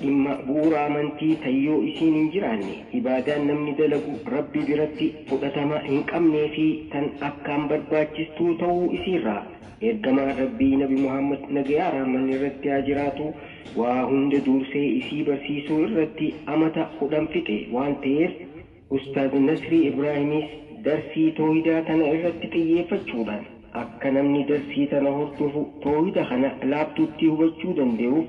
Dhimma bu'uura amantii tan yoo isiin hin jiraanne ibaadaan namni dalagu Rabbi biratti fudhatama hin qabnee fi tan akkaan barbaachistuu ta'uu isiirraa Ergamaan Rabbii Nabi Muhammad nagayaa rahmanni irratti haa jiraatuu waa hunda duursee isii barsiisuu irratti amata 10 fixe waan ta'eef Ustaaz Nasrii Ibraahimiis darsii toohidaa tana irratti xiyyeeffachuudhaan akka namni darsii tana hordofu toohida kana laaftuutti hubachuu dandayuuf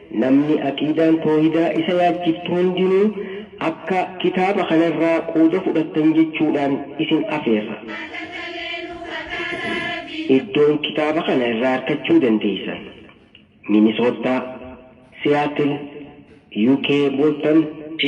Namni aqiidaan toohidaa isa yaachiftu hundinuu akka kitaaba kana irraa quuda fudhattan jechuudhaan isin afeerra. Iddoon kitaaba kana irraa arkachuu dandeeysan, Minisoottaa, Seattle, UK, Boston. C.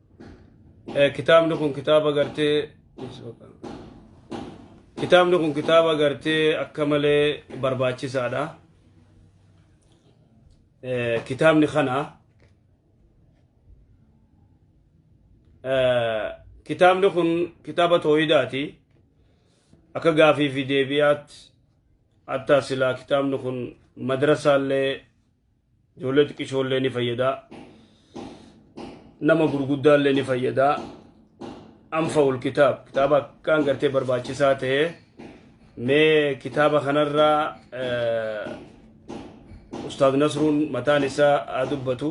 Eh, kitaabni kun kitaaba gartee kitaabni kun kitaaba gartee akka malee barbaachisaadha Eh, kitaabni kana eh, kitaabni kun kitaaba tooyidaati akka gaafii fi deebiyaatti hatta silaa kitaabni kun madrasaallee Ijoollee xiqqishoollee ni fayyadaa. Nama gurguddaallee ni fayyadaa. Anfa'ul kitaab kitaaba akkaan gartee barbaachisaa ta'e mee kitaaba kanarraa Ustaad Nasruun mataan isaa haa dubbatu.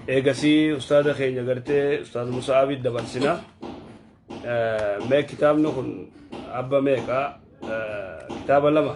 Eegasii ustaada keenya gartee Ustaad Musa'aabitti dabarsina. Mee kitaabni kun abba meeqa? Kitaaba lama.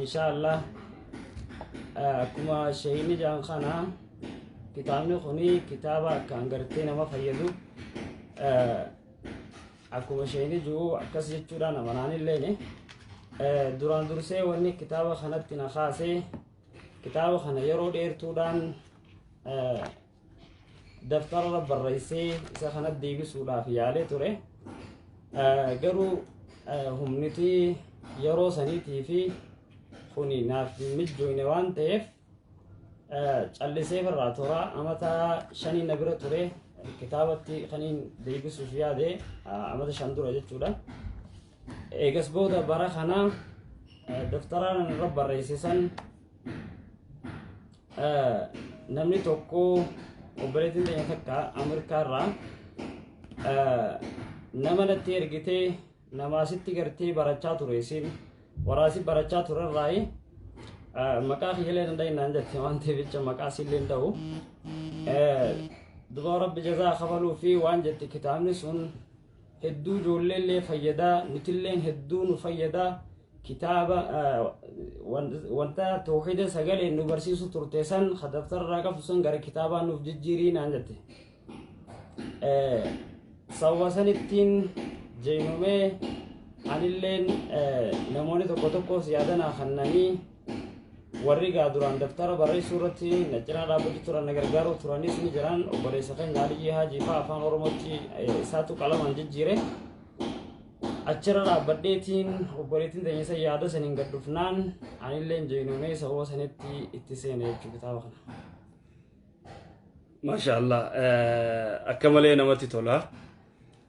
insha allah akkuma sheeyni jaan kana kitaabni kuni kitaaba akkaan gartee nama fayyadu akkuma sheeyni jiru akkas jechuudhaan amanaanilleeni duraan dursee wanni kitaaba kanatti na kaasee kitaaba kana yeroo dheertuudhaan daftararra barreessee isa kana deebisuudhaaf yaalee ture garuu humniti yeroo saniitii fi kuni naaf hin mijjooyne waan ta'eef callisee irraa tura amata shanii na bira ture kitaabatti kaniin deebisuuf yaade amata shan dura jechuudha eegas booda bara kana daftaraan irra barreessisan Eh, namni tokko obboleettiin keenya takka Ameerikaa irraa eh, nama natti ergitee namaa sitti gartee barachaa ture isin waraasi barachaa ture irraayi eh, maqaa kiyyallee danda'e naan jette waan ta'eef jecha maqaa sillee hin ta'u. Eh, Duba rabbi jazaa kafaluu fi waan jette kitaabni sun hedduu ijoolleellee fayyadaa nutilleen hedduu nu fayyadaa kitaaba wanta tawxiida sagalee nu barsiisu turte san kadaftarraa qabu san gara kitaabaa nuuf jijjiirii naan jette sababa sanittiin jeenumee anilleen namoonni tokko tokkos yaadanaa kannanii warri gaa duraan daftara barreessuu irratti na cinaa dhaabbatu turan na gargaaruu turanis ni jiran obboleessa keenya Aliyyii Haajii fa'aa afaan Oromootti eh, isaatu qalamaan jijjiire. Achirra dhaabbadheetiin obboleettiin teenya isa yaada saniin gad dhufnaan anillee jeenuunee sababa sanitti itti seene jechuu kitaaba kana. Maasha Allah akka malee namatti tola.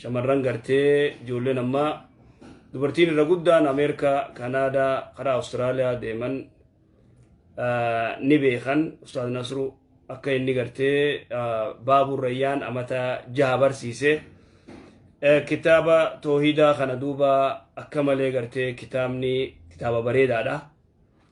Shamarran gartee ijoolleen ammaa dubartiin irra guddaan Ameerikaa, Kanaadaa, karaa Awustiraaliyaa deeman ni beekan Ustaaz Nasru akka inni gartee baabuu rayyaan amata jaha barsiise. Kitaaba toohidaa kana duuba akka malee gartee kitaabni kitaaba bareedaadha.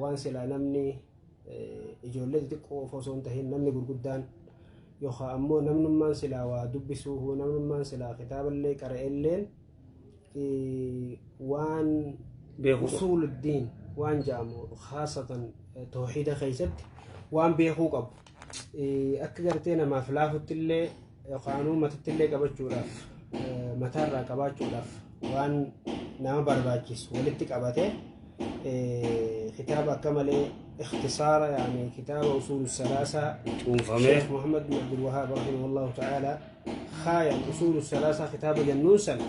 waan silaa namni ijoollee xixiqqoo of osoo hin tahin namni gurguddaan yookaan ammoo namnummaan silaa waa dubbisuu namnummaan silaa kitaaballee qara'elleen waan Beekuu qaba. usuuluddiin waan jedhamu haasatan tooxiida keessatti waan beekuu qabu. akka gartee namaaf laafutti illee yookaanuu matatti illee qabachuudhaaf mataarraa qabaachuudhaaf waan nama barbaachisu walitti qabate kitaaba akka malee ikhtisaara yaani kitaaba usuul salaasaa cuunfamee sheekh muhammad bin abdul wahaab rahimahullahu ta'aalaa kaayan usuul salaasaa kitaaba jennuun san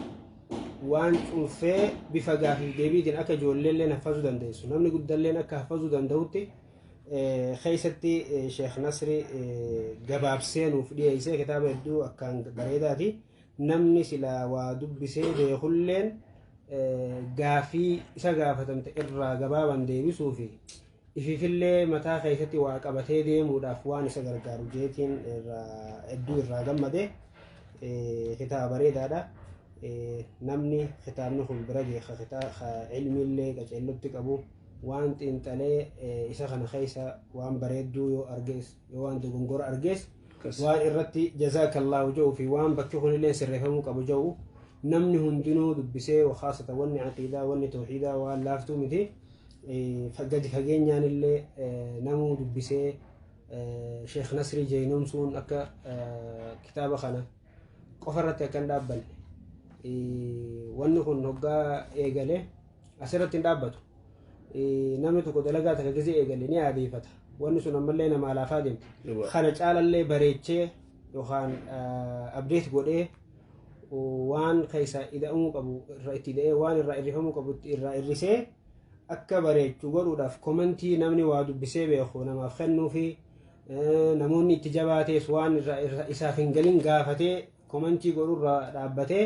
waan cuunfee bifa gaafii deebiitiin akka ijoollee illee haffazuu dandeessu namni guddalleen akka haffazuu danda'utti keessatti Sheekh Nasri gabaabsee nuuf dhiyeessee kitaaba hedduu akkaan bareedaati. Namni silaa waa dubbisee beekulleen gaafii isa gaafatamte irraa gabaabaan deebisuu fi ififillee mataa keessatti waa qabatee deemuudhaaf waan isa gargaaru jeetiin hedduu irraa gammade kitaaba bareedaadha. Namni kitaabni kun bira geessa ilmiillee qaceellotti qabu. waan xiinxalee isa kana keessa waan bareedduu yoo argees yoo waan dogongora argees waan irratti jazaakallaahu ja'u fi waan bakki kunillee sirreeffamuu qabu ja'u namni hundinuu dubbisee wakaasata wanni aqiidaa wanni tooxiidaa waan laaftuu miti gadi fageenyaan illee namuu dubbisee sheekh nasrii jeynoomsuun akka kitaaba kana qofa irratti akkan dhaabbanne wanni kun hoggaa eegale Asirratti hin dhaabbatu. Namni tokko dalagaa takka gisee eegale ni aadeeffata. Wanni sun ammallee nama alaafaa deemti. Kana caalallee bareechee yookaan abdeet godhee waan keessa ida'amuu qabu irraa itti ida'ee waan irraa irrifamuu qabu irraa irrisee akka bareechu godhuudhaaf komentii namni waa dubbisee beeku namaaf kennuu fi namoonni itti jabaatees waan irraa isaaf hin galin gaafatee komentii godhurraa dhaabbatee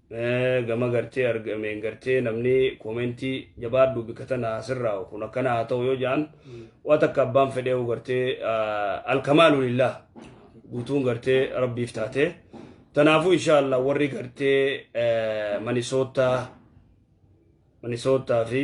gama gartee argameen gartee namni koomentii jabaadhu bika tana asirraa kun akkana haa ta'u yoo ja'an waa takka abbaan fedhee hoo gartee alkamaalu lillah guutuun gartee rabbiif taate tanaafuu inshaallah warri gartee manisoottaa manisoottaa fi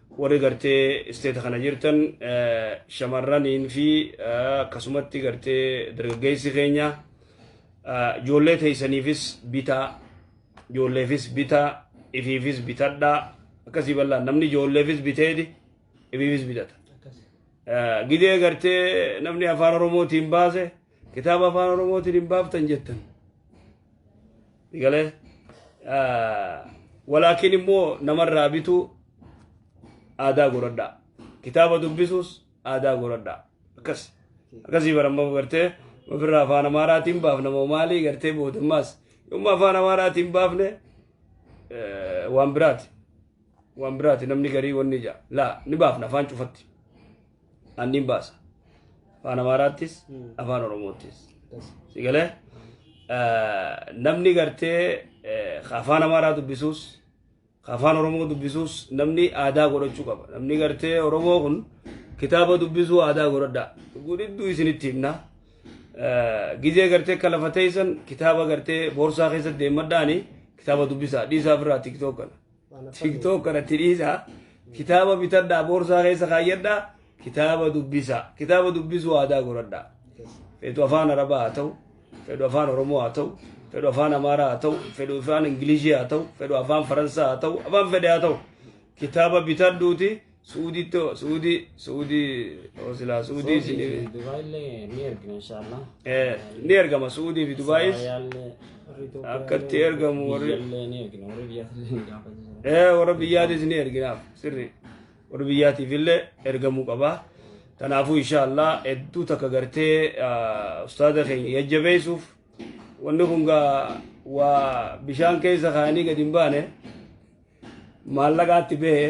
Warri gartee isteeta kana jirtan shamarraniin fi akkasumatti gartee dargaggeessi keenya ijoollee teessaniifis bitaa ijoolleefis bitaa ifiifis bitadhaa akkasii bal'aan namni ijoolleefis biteeti ifiifis bitata. Gidee gartee namni afaan oromootiin baase Kitaaba afaan Oromootiin hin baaftan jettan. Galee walaakin immoo namarraa bituu aadaa godhadhaa. Kitaaba dubbisuus aadaa godhadhaa. Akkas akkasii baramma gartee ofirraa afaan Amaaraatiin baafna moo maalii gartee boodammaas yommuu afaan Amaaraatiin baafne eh, waan biraati. Waan biraati namni garii wanni ija laa ni baafna afaan cufatti. an niin baasa afaan amaaraattis afaan oromoottis si galee namni gartee ka afaan amaaraa dubbisuus ka afaan oromoo dubbisuus namni aadaa godhachuu qaba namni gartee oromoo kun kitaaba dubbisuu aadaa godhadhaa gudhidduu isinitti himnaa gizee gartee akka lafa teessan kitaaba gartee boorsaa keessa deemadhaani kitaaba dubbisaa dhiisaa ofirraa tiktook kana tiktok kanatti dhiisa kitaaba bitadhaa boorsaa keessa kaayyadhaa kitaaba dubbisa kitaaba dubbisuu aadaa godhadhaa fedhu afaan arabaa haa ta'u fedhu afaan oromoo haa ta'u fedhu afaan amaaraa haa ta'u fedhu afaan ingilishii haa ta'u fedhu afaan faransaa haa ta'u afaan fedhe haa ta'u kitaaba bitadhuuti suudiitti hoo suudii suudii hoo silaa suudii isin Dubaayillee ni ergina inshaallah. ni ergama suudii fi dubaayis Dubaayillee warri Itoophiyaa Akkatti illee, ergamu warri- biyyallee ni ergina warri biyyaallee ni gaafatu. Eh, warra biyyaatis ni erginaaf sirri warra biyyaatiif illee ergamuu qaba kanaafuu inshaallah hedduu takka gartee ah, ustaaza keenya jajjabeessuuf wanni kun gaa waa bishaan keessa kaanii gadi hin baane maallaqaatti bahe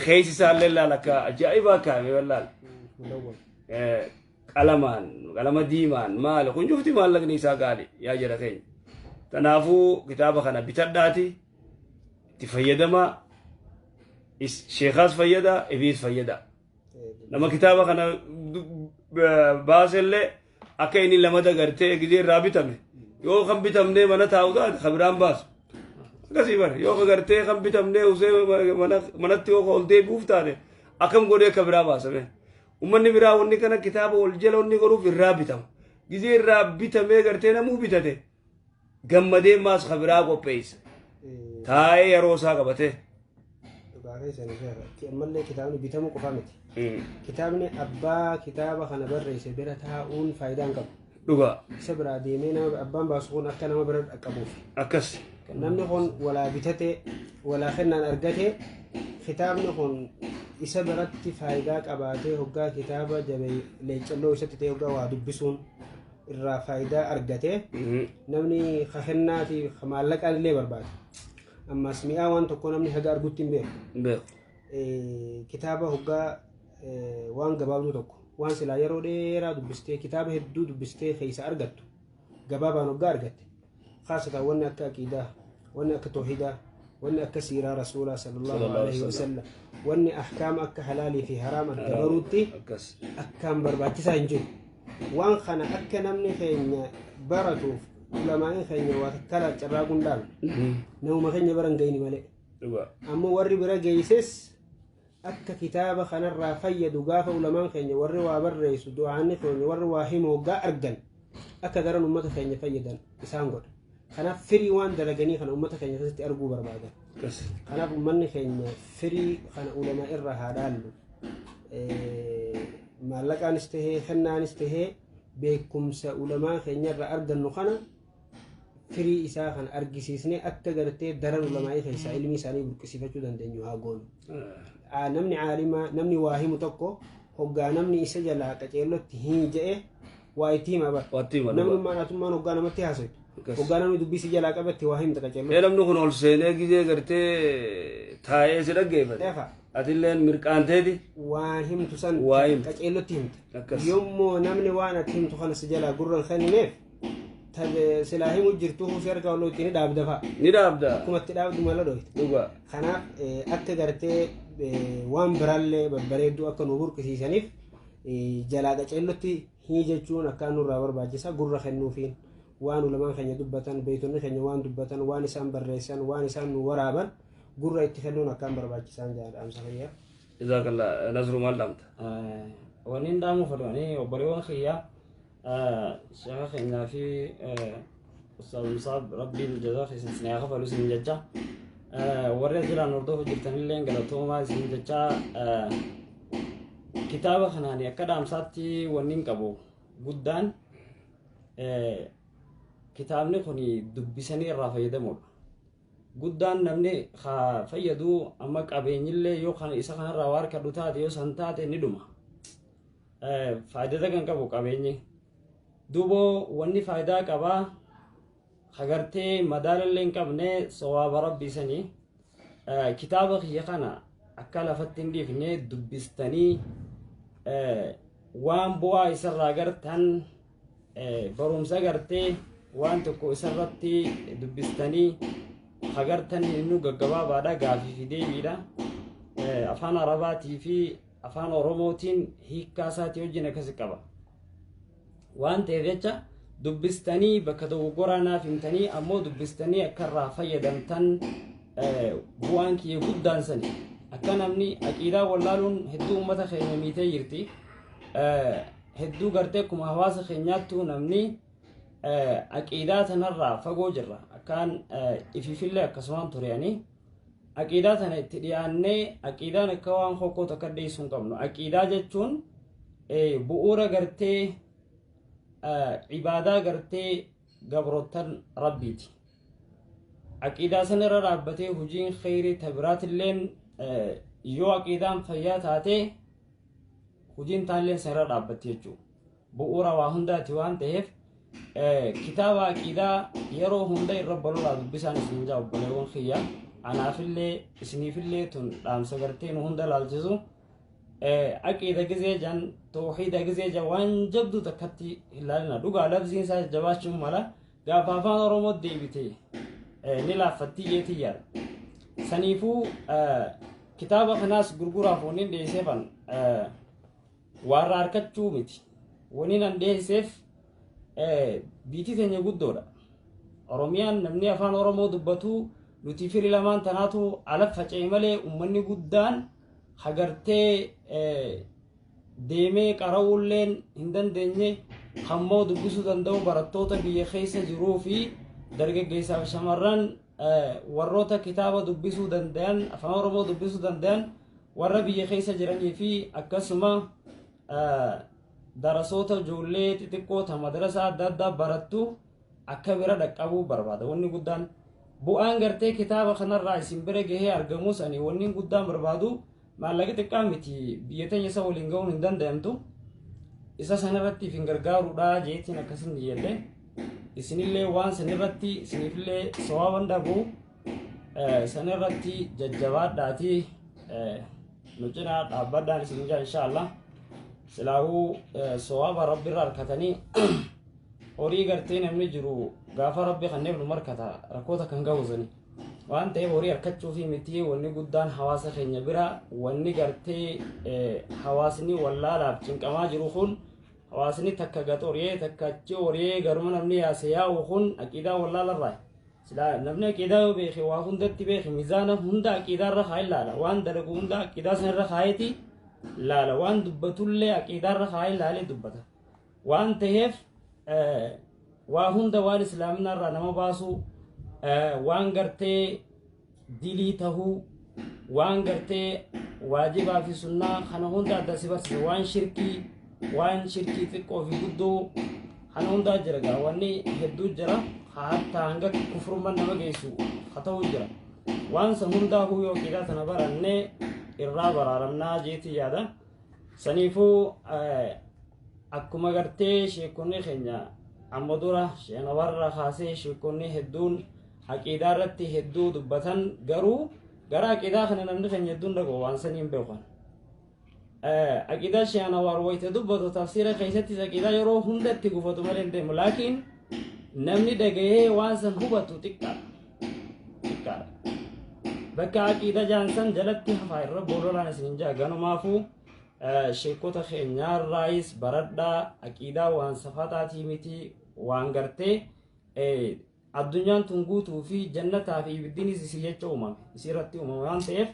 Keeysi isaallee laal akka ajaa'ibaa kaa'ame wallaal. Qalamaan qalama diimaan maali kun cufti maallaqni isaa gaali yaa jira keenya. Kanaafuu kitaaba kana bitadhaati itti fayyadamaa sheekaas fayyada ibiis fayyada. Nama kitaaba kana baasellee akka inni lamada gartee gizee irraa bitame yoo kan bitamnee mana taa'u taate kan biraan baasu akkasii bar yoo ka gartee kan bitamnee usee mana- manatti yoo ka ol deebi'uuf taate akkam godhee ka biraa baasame ummanni biraa wanni kana kitaaba wal jala wanni godhuuf irraa bitama gizee irraa bitamee gartee namuu bitate gammadee maas ka biraa qopheessa taa'ee yeroo isaa qabatee Dhugaa keessan ishee irratti ammallee kitaabni bitamuu qofa miti. Kitaabni abbaa kitaaba kana barreesse bira taa'uun faayidaa hin qabu. dhugaa Isa biraa deemee nama abbaan baasu kun akka nama bira dhaqqabuuf. akkas Namni kun walaa bitatee walaa kennaan argatee kitaabni kun isa biratti faayidaa qabaatee hoggaa kitaaba jabee leeccalloo isatti ta'e hoggaa waa dubbisuun irraa faayidaa argate namni ka kennaa fi ka maallaqaan illee barbaada. Ammas mi'aa waan tokkoo namni haga argutti hin beeku. Hin beeku. Eh, Kitaaba hoggaa eh, waan gabaabduu tokko waan silaa yeroo dheeraa dubbistee kitaaba hedduu dubbistee keessa argattu gabaabaan hoggaa argatte khaasatan wanni akka aqiidaa wanni akka toohidaa wanni akka siiraa rasuulaa sallallahu Sallallahu alaihi alaihi wasallam wanni ahkaama akka halaalii fi haraam adda baruutti akkas akkaan barbaachisaa hin jiru waan kana akka namni keenya baratuuf ulamaa'in keenya waa takkalaa carraa gundaan namuma keenya baran gayni malee dhugaa ammoo warri bira geeyses akka kitaaba kanarraa fayyadu gaafa ulamaan keenya warri waa barreessu du'aanni keenya warri waa himu hoggaa argan akka garan ummata keenya fayyadan isaan godha kanaaf firii waan dalaganii kana ummata keenya keessatti arguu barbaadan kanaaf ummanni keenya firii kana ulama irraa haa dhaallu maallaqaanis tahee kennaanis tahee beekumsa ulamaa keenya irraa argannu kana firii isaa kan argisiisnee akka gartee daran ulamaa'ii keessaa ilmi isaanii burqisiifachuu dandeenyu haa goonu. Aa, Namni caalimaa namni waa himu tokko hoggaa namni isa jalaa qaceellotti hin ja'e waa itti hima bara. Waatti hima dhugaa. Namnummaan atummaan hoggaa namatti haasoftu. Akkas. Hoggaa namni dubbii si jalaa qabatte waa himta qaceellotti. Ee namni kun ol seenee gizee gartee taa'ee si dhaggeeffate. Efa. Atilleen mirqaanteeti. waan himtu san Waa himtu. qaceellotti himta Akkas. yommuu namni waan ati himtu kana si jalaa gurra hin kennineef ta- silaa himu jirtu kuusi harka wal ittiin ni dhaabda fa'a. ni dhaabda Akkuma itti dhaabdu mala dhooyte. dhugaa Kanaaf eh, akka gartee eh, waan biraallee babbareedduu akka nu burqisiisaniif eh, jalaa qaceellotti hii jechuun akka nurraa barbaachisa gurra kennuufiin waan ulamaan keenya dubbatan beektonni keenya waan dubbatan waan isaan barreessan waan isaan nu waraaban gurra itti kennuun akkaan barbaachisaan jedha dhaamsa fayyaa. jazaakallaa nasru maal dhaamta Wanni hin dhaamu fedhu ani obboleewwan kiyyaa Sheekha keenyaa fi Ustaaz Musaab Rabbiin jazaa keessan isin haa kafalu isin jecha warri asirraan hordofaa jirtanillee galatoomaa isin jecha kitaaba kanaan akka dhaamsaatti wanni hin qabu guddaan kitaabni kun dubbisanii irraa fayyadamuudha. Guddaan namni haa fayyadu amma qabeenyillee yoo isa kanarraa waa argadhu taate yoo san taate ni dhuma. faayidata kan qabu qabeenyi duuba wanni faayidaa qabaa hagartee madaalallee hin qabne sawaaba rabbii sanii kitaaba kiyya kana akka lafatti hin dhiifne dubbistanii waan bu'aa isarraa gartan barumsa gartee waan tokko isarratti dubbistanii hagartan inni gaggabaabaadha gaafii fi deebiidha afaan arabaatii fi afaan oromootiin hiikkaa isaatii wajjin akkasi qaba waan ta'eef jecha dubbistanii bakka dogoggoraa naaf himtanii ammoo dubbistanii akka irraa fayyadamtan eh, bu'aan kiyya guddaan sani akka namni aqiidaa wallaaluun hedduu uummata keenya miitee jirti Eh, hedduu gartee akkuma hawaasa keenyaattuu namni eh, aqiidaa tanarraa fagoo jirra akkaan eh, ifiifillee akkasumaan tureanii aqiidaa tana itti dhiyaannee aqiidaan akka waan hokkoo takka dhiyeessuu hin qabnu aqiidaa jechuun bu'uura gartee ibaadaa gartee gabroottan rabbiiti aqiidaa san irra dhaabbatee hojiin kheyrii tabiraatilleen yoo aqiidaan fayyaa taatee hojiin taalleen san irra dhaabbatti jechuudha bu'uura waa hundaati waan ta'eef kitaaba aqiidaa yeroo hunda irra balolaa dubbisaan isin jaa obboleewwan kiyya anaafillee isiniifillee tun dhaamsa gartee nu hunda laalchisu aqiida gizee jan tooxiida gizee jan waan jabdu takkatti hin laalina dhugaa labsiin isaa jabaachuun mala gaafa afaan oromoo deebite ni laaffattii jeetii yaada saniifuu kitaaba kanaas gurguraaf waniin dhiyeesseefan Waarra harkachuu miti. Wani nan dhiyeesseef biitii teenya guddoodha. Oromiyaan namni afaan Oromoo dubbatu nuti firi lamaan tanaatu ala faca'e malee uummanni guddaan hagartee deemee qara'uulleen hin dandeenye hammoo dubbisuu danda'u barattoota biyya keessa jiruu fi dargaggeessaaf shamarran warroota kitaaba dubbisuu dandayan afaan oromoo dubbisuu dandayan warra biyya keessa jiranii fi akkasuma darasoota ijoollee xixiqqoo ta madrasaa adda addaa barattu akka bira dhaqqabuu barbaada wanni guddaan bu'aan gartee kitaaba kanarraa isin bira gahee argamus ani wanni guddaan barbaadu Maallaqi xiqqaa miti biyya teenya isa waliin ga'uun hin danda'amtu. Isa sanarratti ifin gargaaruudha jeetiin akkasin jedhe. Isinillee waan sanirratti isinillee sawaban dhabu sanirratti jajjabaadhaati nu cinaa dhaabbadhaan isin jaa inshaallah. Silaahuu sawaba rabbirra harkatanii horii gartee namni jiru gaafa rabbi kanneen nu markata rakkoota kan ga'u sanii. waan ta'eef horii harkachuu fi miti wanni guddaan hawaasa keenya bira wanni gartee hawaasni wallaalaaf cinqamaa jiru kun hawaasni takka gad horiyee takka achi horiyee garuma namni yaase yaa'u kun aqiidaa wallaalarraa silaa namni aqiidaa yoo beeke waa hundatti beeke mizaana hunda aqiidaa irra kaa'ee laala waan dalagu hunda aqiidaa san irra kaa'eeti laala waan dubbatullee aqiidaa irra kaa'ee laalee dubbata. waan taheef waa hunda waan islaamina irraa nama baasuu waan gartee dilii tahuu waan gartee waajibaa fi sunnaa kana hunda adda si barsiisa waan shirkii waan shirkii xiqqoo fi guddoo kana hundaa jira gaa wanni hedduu jira hatta hanga kufrumman nama geessu ha ta'u jira waan san hundaa huu yoo qidaa tana barannee irraa baraaramnaa jeetii yaada saniifuu Akkuma gartee sheekonni keenya amma dura sheenawarra kaasee sheekonni hedduun aqiidaa irratti hedduu dubbatan garuu gara aqiidaa kana namni keenya hedduun dhaqu waan sanii hin beekan. Aqiidaa sheenawar wayita dubbatu tafsiira keessattis aqiidaa yeroo hunda itti gufatu malee hin deemu laakiin namni dhagahee waan san hubatu xiqqaadha. Xiqqaadha. Bakka aqiidaa jaan san jalatti hafaa irra boololaan isin hin jaa ganumaafuu Sheekkota keenyaarraayis baradhaa aqiidaa waan safataatii miti waan gartee addunyaan tun guutuu fi jannataa fi ibiddinis isii jecha uumame isii irratti uumame waan ta'eef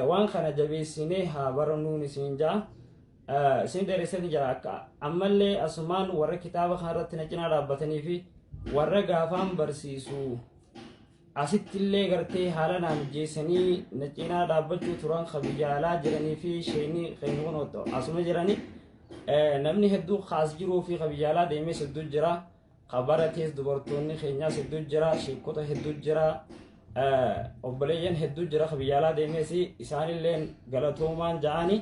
waan kana jabeessinee haa barannuun isin jaa isin dheeressan jira akka ammallee asumaan warra kitaaba kanarratti na cinaa dhaabbatanii fi warra gaafaan barsiisu Asittillee gartee haala naa mijjeessanii na cinaa dhaabbachuu turan ka biyya alaa jiranii fi sheenii keenya kun otto asuma jiranii eh, namni hedduu kaas jiruu fi ka biyya alaa deemees hedduu jira ka baratees dubartoonni keenyaas hedduu jira sheekota hedduu jira eh, obboleeyyan hedduu jira ka biyya alaa deemees isaanillee galatoomaan ja'anii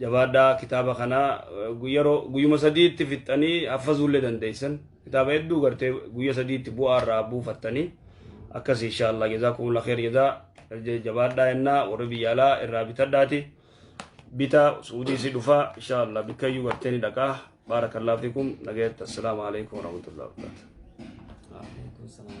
jabaadhaa kitaaba kana yeroo guyyuma sadiitti fixxanii haffazuullee dandeessan kitaaba hedduu gartee guyya sadiitti bu'aa irraa buufattanii akkas inshaallah jazaa kumula kheer jazaa jabaadhaa yennaa warri biyya alaa irraa bitadhaati bita suudii si dhufaa inshaallah bikkayyuu gartee ni dhaqaa baarakallah fikum nagayatti assalaamu alaikum warahmatullahi wabarakatuh Waalaikumsalam.